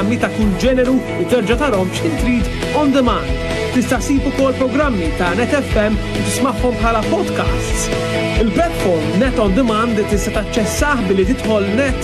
programmi ta' kull ġeneru u terġa' tarhom x'in trid on demand. Tista' ssib ukoll programmi ta' Net FM u tismagħhom bħala podcasts. Il-platform Net on Demand tista' taċċessah billi tidħol net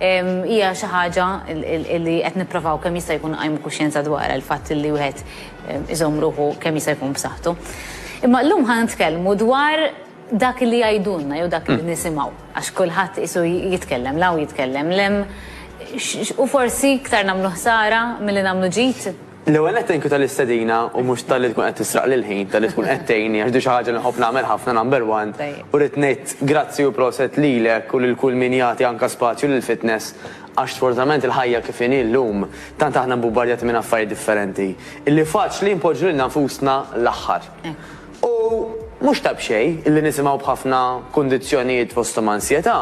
Hija xi ħaġa li qed nipprovaw kemm jista' jkun nqajmu kuxjenza dwarha, il-fatt li wieħed iżomm ruħu kemm jista' jkun b'saħħtu. Imma llum ħa nitkellmu dwar dak li jgħidulna jew dak li nisimgħu, għax kulħadd qisu jitkellem 'l hawn jitkellem 'l hemm, u forsi iktar nagħmlu ħsara milli nagħmlu ġid. L-ewwel nett thank you tal-istedina u mhux talli tkun qed tisraqli l-ħin, talli tkun qed tgħinni għax di xi ħaġa li nħobb nagħmel ħafna number one u rrid ngħid grazzi u proset lilek u lil kull min jagħti anke spazju lill-fitness għax sfortunatament il-ħajja kif inhi llum tant aħna mbubbarjati minn affarijiet differenti illi faċli npoġġu lilna nfusna l-aħħar. U mhux ta' b'xejn illi nisimgħu b'ħafna kundizzjonijiet fosthom ansjetà,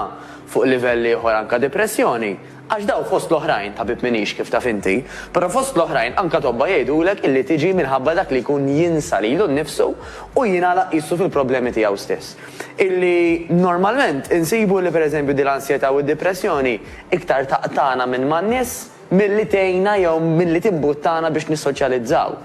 fuq livell ieħor anke depressjoni, Għax daw fost l-oħrajn, tabib m'iniex kif taf inti, però fost l-oħrajn anka tobba jgħidulek illi tiġi minħabba dak li jkun jinsa lilu nnifsu u jingħalaq qisu fil-problemi tiegħu stess. Illi normalment insibu illi per eżempju din l-ansjetà u d-dipressjoni iktar taqtagħna minn man-nies milli tgħinna jew milli timbuttana biex nissoċjalizzaw.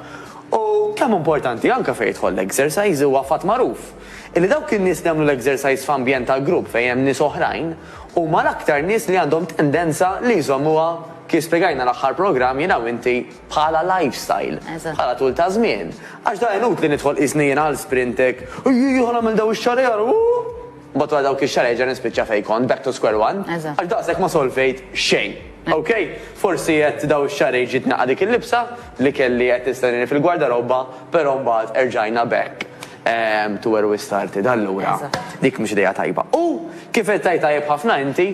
U kemm importanti anka fejn jidħol l-exercise huwa fatt magħruf illi dawk in-nies li jagħmlu l-exercise f'ambjent ta' grupp fejn hemm nies oħrajn, huma l-aktar nies li għandhom tendenza li jżommuha, kif spjegajna l-aħħar programm jiena u inti, bħala lifestyle, bħala tul ta' żmien. Għax da inutli nidħol qisni jiena għal Sprintek, ejjejja ħa nagħmel dawn ix-xahrejn ara ooh! Mbagħad wara dawk ix-xahrejn nerġa' nispiċċa fejn kont, back to square one, għax daqshekk ma solvejt xejn. Ok? Forsi għedt dawn ix-xahrejn ġiet naqgħa dik il-libsa li kelli qed tistennini fil-gwardarobba, però mbagħad erġajna back. Ehm, tu erwi started, allura. Eżatt. Dik mhux idea tajba. U kif qed tgħid tajjeb ħafna inti,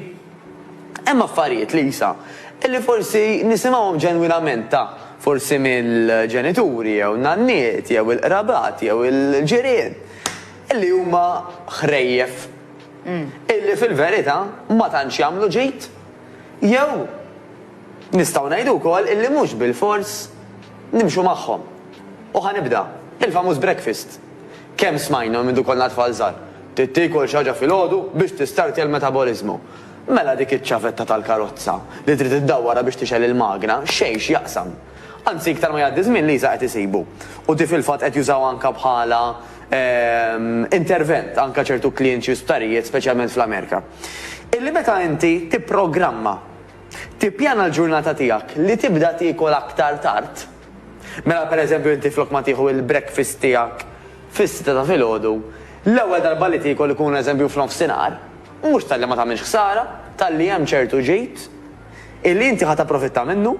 hemm affarijiet, Lisa, illi forsi nisimgħuhom ġenwinament ta' forsi mill-ġenituri jew n-nanniet jew il-qrabat jew il-ġirien illi huma ħrejjef illi fil-verità ma tantx jagħmlu ġid jew Nistgħu ngħidu wkoll illi mhux bilfors nimxu magħhom. U ħa nibda, il-famuż breakfast. Kemm smajna minn mdu konna tfal żgħar, trid tiekol xi ħaġa filgħodu biex tistartja l-metaboliżmu. Mela dik iċ-ċavetta tal-karozza li trid iddawwarha biex tixgħel il-magna xejn x'jaqsam. Anzi iktar ma jgħaddi żmien Lisa qed isibu. U di fil-fatt qed jużawha anke bħala intervent anke ċertu klijenti u sptarijiet speċjalment fl-Amerika. Illi meta inti tipprogramma Tippjana l-ġurnata tiegħek li tibda tiekol aktar tard? Mela pereżempju inti flok ma tieħu l-breakfast tiegħek fis-sitta ta' filgħodu, l-ewwel darba li tiekol ikun eżempju f'nofsinhar, mhux talli ma tagħmilx ħsara, talli hemm ċertu ġid illi inti ħa tapprofitta minnu,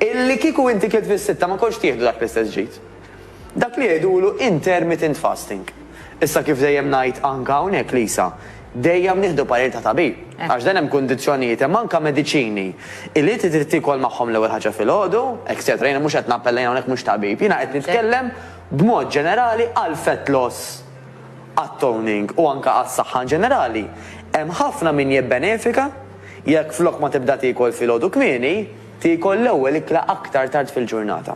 illi kieku inti kilt fis-sitta ma kontx tieħdu dak l-istess ġid. Dak li jgħidulu intermittent fasting. Issa kif dejjem ngħid anka hawnhekk Lisa, dejjem nieħdu parir ta' tabib. Għax dan hemm kundizzjonijiet hemm anka mediċini li inti trid tiekol magħhom l-ewwel ħaġa filgħodu, etcetera. Jiena mhux qed nappella jien hawnhekk mhux tabib. Jiena qed nitkellem b'mod ġenerali għal fat loss għat toning u anka għas-saħħa in ġenerali. Hemm ħafna min jibbenefika jekk flok ma tibda tiekol filgħodu kmieni, Tiekol l-ewwel ikla aktar tard fil-ġurnata.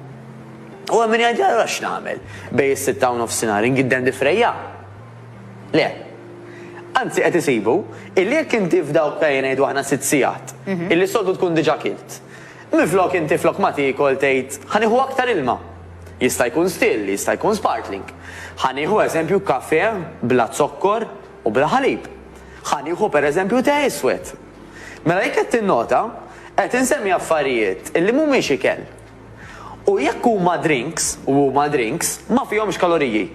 U hemm min jgħid, allura x'nagħmel? Bejn is-sitta u nofsinhar ingidden difrejja? Le. Anzi qed isibu illi jekk inti f'dawk ejja ngħidu aħna sitt sigħat, illi s-soltu tkun diġà kilt, minflok inti flok ma tiekol tgħid ħa nieħu aktar ilma. Jista' jkun still, jista' jkun sparkling. Ħa nieħu eżempju kafè bla zokkor u bla ħalib. Ħa nieħu pereżempju te iswed. Mela jekk qed tinnota, qed insemmi affarijiet li mhumiex ikel. U jekk huma drinks, u huma drinks, ma fihomx kaloriji.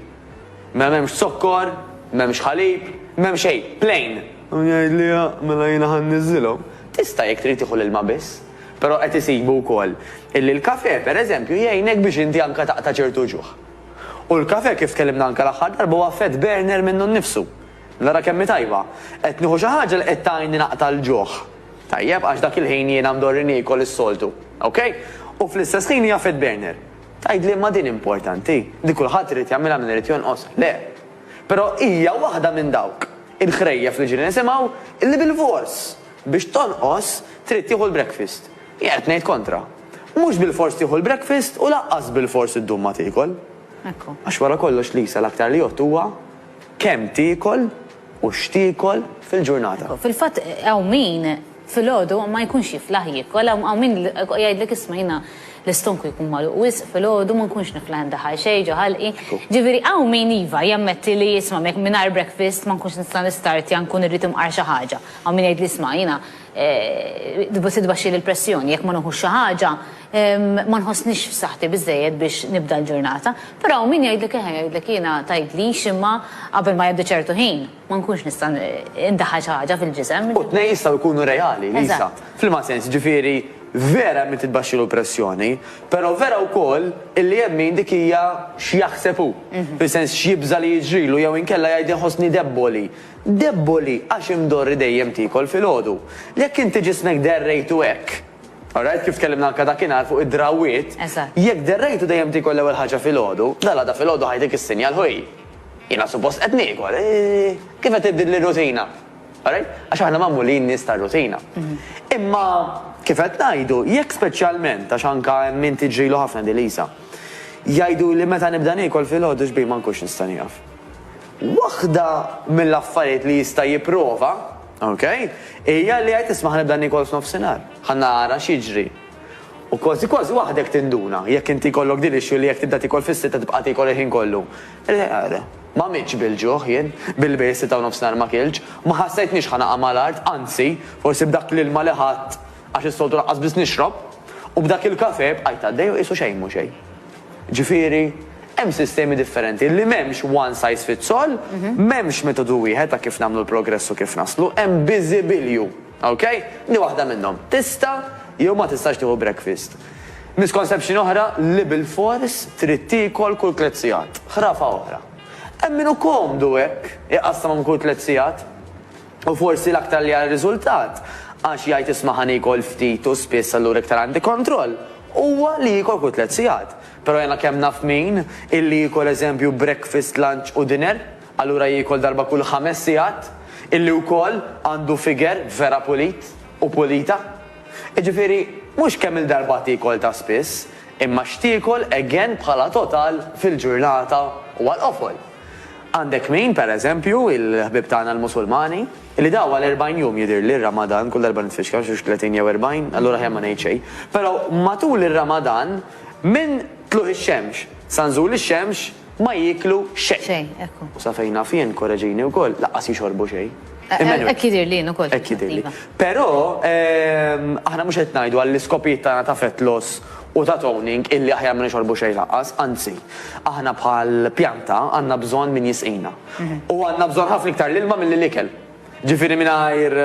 Mela m'hemmx zokkor, m'hemmx ħalib, m'hemm xejn, plain! U jgħid li, mela jiena ħa nniżżilhom. Tista' jekk trid tieħu l-ilma biss. Però qed isibu wkoll illi l-kafè, per eżempju, jgħinek biex inti anke taqta' ċertu ġuħ. U l-kafè kif tkellimna anke l-aħħar darba huwa fat burner minnu nnifsu. Nara kemm hi tajba! Qed nieħu xi ħaġa li qed tgħinni naqta' l-ġuħ. Tajjeb, għax dak il-ħin jiena mdorri niekol is-soltu. Ok? U fl-istess ħin hija fed burner. Tgħidli imma din importanti? Din kulħadd irid jagħmilha min irid jonqos? Le. Però hija waħda minn dawk il-ħrejjef li ġieli nisimgħu li bilfors biex tonqos trid tieħu l-breakfast. Jien qed ngħid kontra. Mhux bilfors tieħu l-breakfast u lanqas bilfors iddum ma tiekol. Għax wara kollox Lisa l-aktar li jgħodd huwa Kemm tiekol u x'tiekol fil-ġurnata? Fil-fatt hawn min filgħodu ma jkunx jiflaħ jiekol, hawn min jgħidlek isma' jiena l-istonku jkun magħluq wisq filgħodu ma nkunx niflaħ indaħħal xejn ġo ħalqi. Ġifieri hawn min iva jammetti li isma' mingħajr breakfast ma nkunx nista' nistartja nkun irrid imqar xi ħaġa. Hawn min jgħidli isma' jiena tbaxxili l-pressjoni jekk ma nieħux xi ħaġa Ma nħossnix f'saħħti biżżejjed biex nibda l-ġurnata, però hawn min jgħidlek eħe, jgħidlek jiena tgħidlix imma qabel ma jgħaddi ċertu ħin ma nkunx nista' indaħħal xi ħaġa fil-ġisem. U t-tnejn jistgħu jkunu reali, Lisa. F'liema sens? Jiġifieri vera hemm min titbaxxilu l-pressjoni, però vera wkoll illi hemm min dik hija x'jaħseb hu, fis-sens x'jibża' li jiġrilu jew inkella jgħid inħossni debboli. Debboli għax imdorri dejjem tiekol filgħodu. Jekk inti ġismek derrejtu hekk, All right, kif tkellimna anke dakinhar fuq id-drawwiet, jekk derrejtu dejjem tiekol l-ewwel ħaġa filgħodu, dalgħada filgħodu ħajtik is-sinjal, ħuj, jiena suppost qed niekol, kif qed tibdilli r-rutina? All right? Għax aħna magħmulin nies tar-rutina. Imma kif qed ngħidu, jekk speċjalment, għax anke hemm min tiġrilu ħafna di Lisa, jgħiduli meta nibda niekol filgħodu xbiehi ma nkunx nista' nieqaf. Waħda mill-affarijiet li jista' jipprova, Ok. Hija li għidt isma' ħa nibda niekol f'nofsinhar. Ħa nara x'jiġri. U kważi kważi waħdek tinduna, jekk inti jkollok din l-issue li jekk tibda tiekol fis-sitta tibqa' tiekol il-ħin kollu. Ma mitx bil-ġuħ jien, billi bejn is-sitta u nofsinhar ma kiltx. Ma ħassejtnix ħa naqa' mal-art, anzi, forsi b'dak l-ilma li ħadt, Għax is-soltu lanqas biss nixrob, u b'dak il-kafè bqajt għaddej u qisu xejn mhu xejn. Ġifieri, hemm sistemi differenti li m'hemmx one size fits all, m'hemmx metodu wieħed ta' kif nagħmlu l-progress u kif naslu, hemm biżibilju. Ok? Di waħda minnhom. Tista' jew ma tistax tieħu breakfast. Misconception oħra li bilfors trid tiekol kull tliet sigħat. Ħrafa oħra. Hemm min hu komdu hekk, iqassam għom kull tliet sigħat. U forsi l-aktar li għar-riżultat, għax jgħid isma' ħa niekol ftit u spiss allura iktar għandi kontroll, huwa li jiekol kull tliet sigħat. Però jiena kemm naf min, illi jiekol eżempju breakfast, lunch u dinner, allura jiekol darba kull ħames sigħat, illi wkoll għandu figure vera pulit u pulita. Jiġifieri, mhux kemm il-darba tiekol ta' spiss, imma x'tiekol again bħala total fil-ġurnata u għall-qofol. Għandek min, per eżempju, il-ħbieb tagħna l-Musulmani, li daw għal erbgħin jum jidhirli r-Ramadan, kull darba nitfixkel, x'hux tletin jew erbgħin, allura aħjar ma ngħid xejn, però matul ir-Ramadan minn tlugħ ix-xemx sa nżul ix-xemx ma jieklu xejn. Xejn, ekku. U sa fejn naf jien, korreġini wkoll, lanqas jixorbu xejn. Emmanuel. Hekk jidhirli jien ukoll. Hekk jidhirli. Però aħna mhux qed ngħidu għall-iskopijiet tagħna ta' fett loss u ta' toning illi aħjar ma nixorbu xejn lanqas, anzi, aħna bħal pjanta għandna bżonn min jisqina. U għandna bżonn ħafna iktar l-ilma milli l-ikel. Ġifieri mingħajr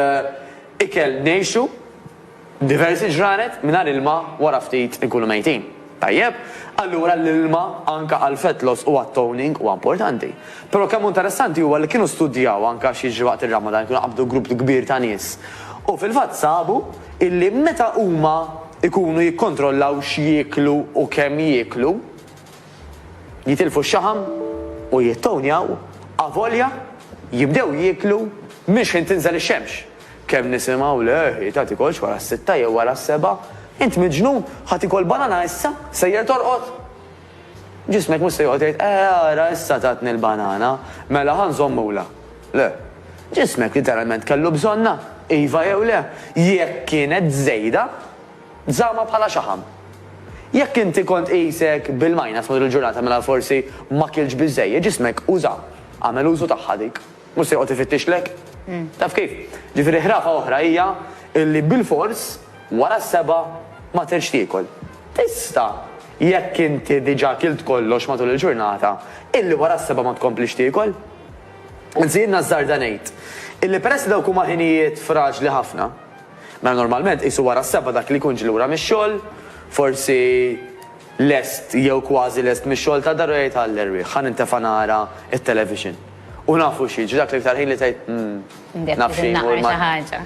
ikel ngħixu diversi ġranet, mingħajr ilma wara ftit inkunu mejtin. Tajjeb? Allura l-ilma anke għall-fat loss u għat-toning huwa importanti. Però kemm hu interessanti huwa li kienu studjaw anke x'jiġri waqt ir-Ramadan, kienu qabdu grupp kbir ta' nies u fil-fatt sabu illi meta huma jkunu jikkontrollaw x'jieklu u kemm jieklu, jitilfu x-xaħam u jittownjaw avolja jibdew jieklu minn xħin tinżel ix-xemx. Kemm nisimgħu le Rita tikolx wara s-sitta jew wara s-sebgħa, int miġnun, ħa tikol banana issa, sejjer torqod? Ġismek mhux se joqgħod jgħid, Eh, ara issa tatni l-banana, mela ħa nżommulha. Le. Ġismek literalment kellu bżonnha, iva jew le. Jekk kienet żejda, żammha bħala xaħam. Jekk inti kont qisek bil-minus matul il-ġurnata mela forsi ma kiltx biżżejjed, ġismek uża, għamel użu tagħha dik. Mhux se joqgħod ifittixlek. Taf kif? Ġifieri ħrafa oħra hija li bilfors wara s-sebgħa ma tridx tiekol. Tista', jekk inti diġà kilt kollox matul il-ġurnata, illi wara s-sebgħa ma tkomplix tiekol. Anzi jien nażżarda ngħid illi peress li dawk huma ħinijiet fraġli ħafna, mela normalment qisu wara s-sebgħa dak li jkun ġie lura mix-xogħol, forsi lest jew kważi lest mix-xogħol tad-dar u jgħid għall-erwieħ ħa nintefa' nara t-television. U nafu xi, ġidak l-iktar ħin li tgħid, mm, naf xi jmur ma' xi ħaġa.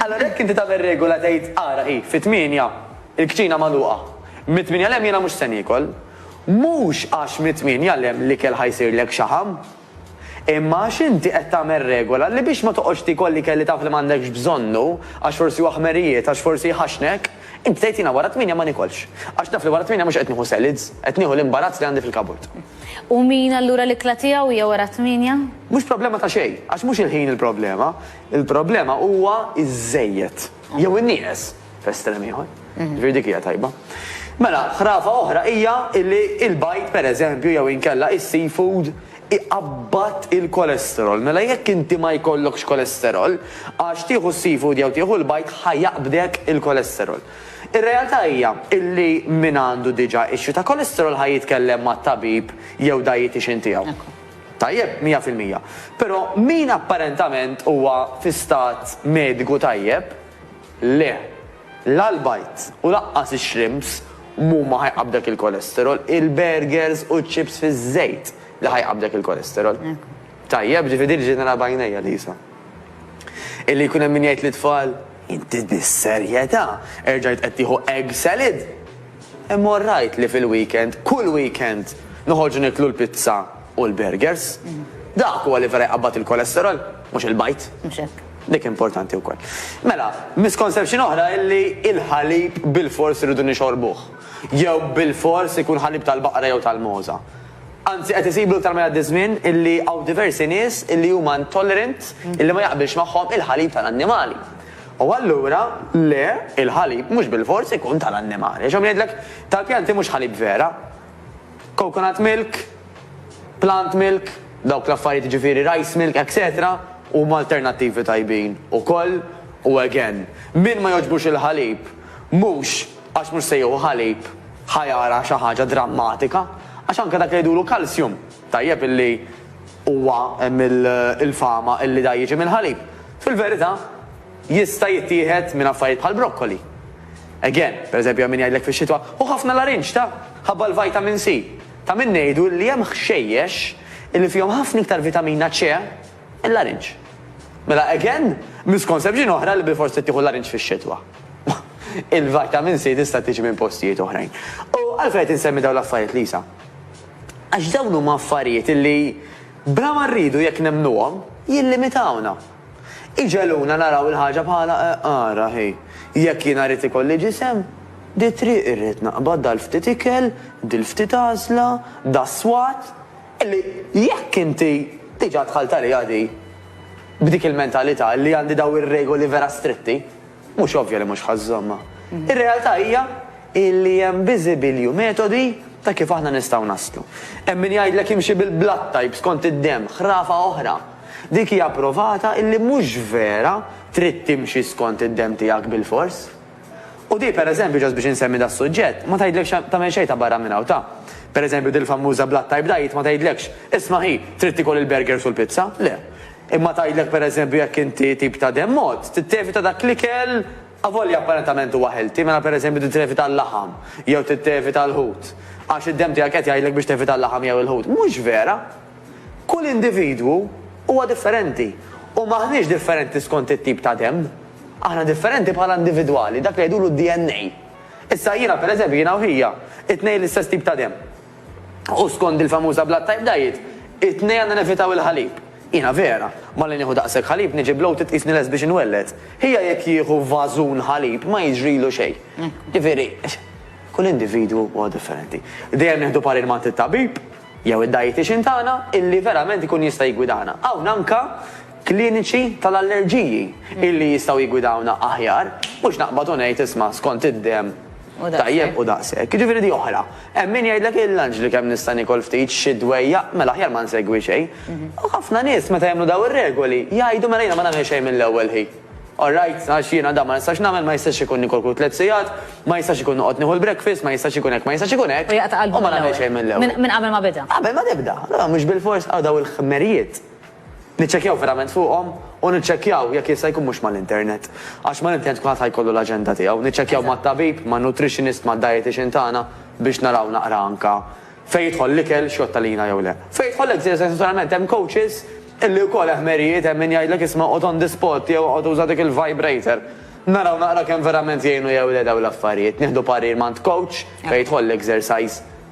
Allura jekk inti tagħmel regola tgħid ara hi, fit-tmienja il-kċina magħluqa. Mit-tmienja 'l hemm jiena mhux se niekol. Mhux għax mit-tmienja 'l hemm l-ikel ħa jsirlek xaħam. Imma għax inti qed tagħmel regola li biex ma toqgħodx tiekol l-ikel li taf li m'għandekx bżonnu, għax forsi huwa ħmerijiet, għax forsi jħaxxnek, inti tgħid jiena wara t-tmienja ma niekolx. Għax naf li wara t-tmienja mhux qed nieħu salads, qed nieħu l-imbarazz li għandi fil-kabord. U min allura l-ikla tiegħu hija wara t-tmienja? Mhux problema ta' xejn, għax mhux il-ħin il-problema, il-problema huwa iż-żejjed jew in-nieqes f'estrem ieħor. Ġifieri dik hija tajba. Mela, ħrafa oħra hija li l-bajd pereżempju jew inkella is-seafood iqabbad il-kolesterol. Mela jekk inti ma jkollokx kolesterol, għax tieħu s-seafood jew tieħu l-bajd ħajaqbdek il-kolesterol. Ir-realtà hija illi min għandu diġà issue ta' cholesterol ħa jitkellem mat-tabib jew dietician tiegħu. Tajjeb, mija fil-mija. Però min apparentament huwa fi stat mediku tajjeb, le. La l-bajd u lanqas ix-shrimps m'huma ħa jqabbdek il-cholesterol, il-burgers u ċ-chips fiż-żejt li ħa jqabbdek il-cholesterol. Tajjeb, ġifieri din ġejt nara b'għajnejja, Lisa. Illi jkun hemm min jgħid lit-tfal, Inti bis-serjetà erġajt qed tieħu egg salad? Imma orrajt li fil-weekend, kull weekend, noħorġu nieklu l-pizza u l-burgers? Dak huwa li vera jqabbad il-cholesterol, mhux il-bajd. Mhux hekk. Dik importanti wkoll. Mela, misconception oħra hi li l-ħalib bilfors irridu nixorbuh. Jew bilfors ikun ħalib tal-baqra jew tal-mogħża. Anzi qed isibu iktar ma jgħaddi ż-żmien illi hawn diversi nies illi huma intolerant illi ma jaqbilx magħhom il-ħalib tal-annimali. U allura le, il-ħalib mhux bilfors ikun tal-annimali. Għax hawn min jgħidlek tal-pjanti mhux ħalib vera. Coconut milk, plant milk, dawk l-affarijiet jiġifieri rice milk etc. Huma alternattivi tajbin ukoll u again, min ma jogħġbux il-ħalib mhux Għax mhux se jieħu ħalib ħa jara xi ħaġa drammatika, għax anke dak li jgħidulu calcium, tajjeb illi huwa hemm il-fama illi da jiġi mill-ħalib, fil-verità jista' jittieħed minn affarijiet bħal broccoli. Again, per eżempju hemm min jgħidlek fix-xitwa, ħu ħafna larinġ ta, ħabba l-vitamin C. Ta' min ngħidu illi hemm ħxejjex illi fihom ħafna iktar vitamina C, Il-larinġ. Mela again, misconception oħra li bilfors trid tieħu l-larinġ fix-xitwa. Il-vitamin C tista' tiġi minn postijiet oħrajn. U għalfejn qed insemmi dawn l-affarijiet, Lisa? Għax dawn huma affarijiet li bla ma rridu jekk nemmnuhom, jillimitawna. Iġegħluna naraw il-ħaġa bħala eh, ara hi, jekk jiena rrid ikolli ġisem, di triq irrid naqbad dal-ftit ikel, dil-ftit għażla, das-swat, Illi jekk inti diġà dħalt għaliha di b'dik il-mentalità li għandi dawn ir-regoli vera stritti, mhux ovvja li mhux ħa żżommha. Ir-realtà hija illi hemm biżibilju metodi ta' kif aħna nistgħu naslu. Hemm min jgħidlek imxi bil-blood type skont id-demm, ħrafa oħra. Dik hija provata illi mhux vera trid timxi skont id-demm tiegħek bilfors. U di, per eżempju, just biex insemmi das-suġġett, ma tgħidlekx tagħmel xejn ta' barra minn hawn ta'. Per eżempju, dil-fammuża Blood Type Diet ma tgħidlekx, isma' hi, trid tiekol il-burgers u l-pizza, le. Imma tgħidlek per eżempju jekk inti tip ta' demm mod, trid tevita dak l-ikel avolja apparentament huwa healthy, mela per eżempju trid tevita l-laħam jew trid tevita l-ħut għax id-demm tiegħek qed jgħidlek biex tevita l-laħam jew il-ħut. Mhux vera! Kull individwu huwa differenti u m'aħniex differenti skont it-tip ta' demm. Aħna differenti bħala individwali, dak li jgħidulu d-DNA. Issa jiena, pereżempju, jiena u hija, it-tnejn l-istess tip ta' demm. U skond il-famuża blood type diet, it-tnejn għandna nevitaw il-ħalib. Jiena vera, malli nieħu daqshekk ħalib niġi bloated qisni lest biex inwelled. Hija jekk jieħu vażun ħalib ma jiġrilu xejn. Ġifieri, kull individwu huwa differenti. Dejjem nieħdu parir m'għand it-tabib jew id-dietician tagħna illi verament ikun jista' jiggwidana. Hawn anke kliniċi tal-allerġiji illi jistgħu jiggwidawna aħjar, mhux naqbad u ngħid isma' skont id-demm tajjeb u daqshekk. Jiġifieri di oħra. Hemm min jgħidlek il-lunch li kemm nista' niekol ftit, xi dwejjaq, mela aħjar ma nsegwi xejn. U ħafna nies meta jagħmlu dawn ir-regoli jgħidu mela jiena ma nagħmel xejn mill-ewwel ħin. All right, għax jiena dan ma nistax nagħmel, ma jistax ikun nikol kull tliet sigħat, ma jistax ikun noqgħod nieħu l-breakfast, ma jistax ikun hekk, ma jistax ikun hekk, u ma nagħmel xejn mill-ewwel. Minn qabel ma beda. Qabel ma tibda. Allura mhux bilfors għaw dawn il-ħmerijiet. Niċċekkjaw verament fuqhom u niċċekkjaw jekk jista' jkun mhux mal-internet. Għax mal-internet kulħadd ħa jkollu l-aġenda tiegħu. Niċċekkjaw mat-tabib, man-nutritionist, mad-dietician tagħna biex naraw naqra anke fejn jidħol l-ikel, x'jgħodd għalina jew le. Fejn jidħol l-exercise naturalment hemm coaches illi wkoll eh ħmerijiet hemm min jgħidlek isma' oqgħod on the spot jew oqgħod uża dik il-vibrator. Naraw naqra kemm verament jgħinu jew le dawn l-affarijiet. Nieħdu parir m'għand coach fejn jidħol l-exercise.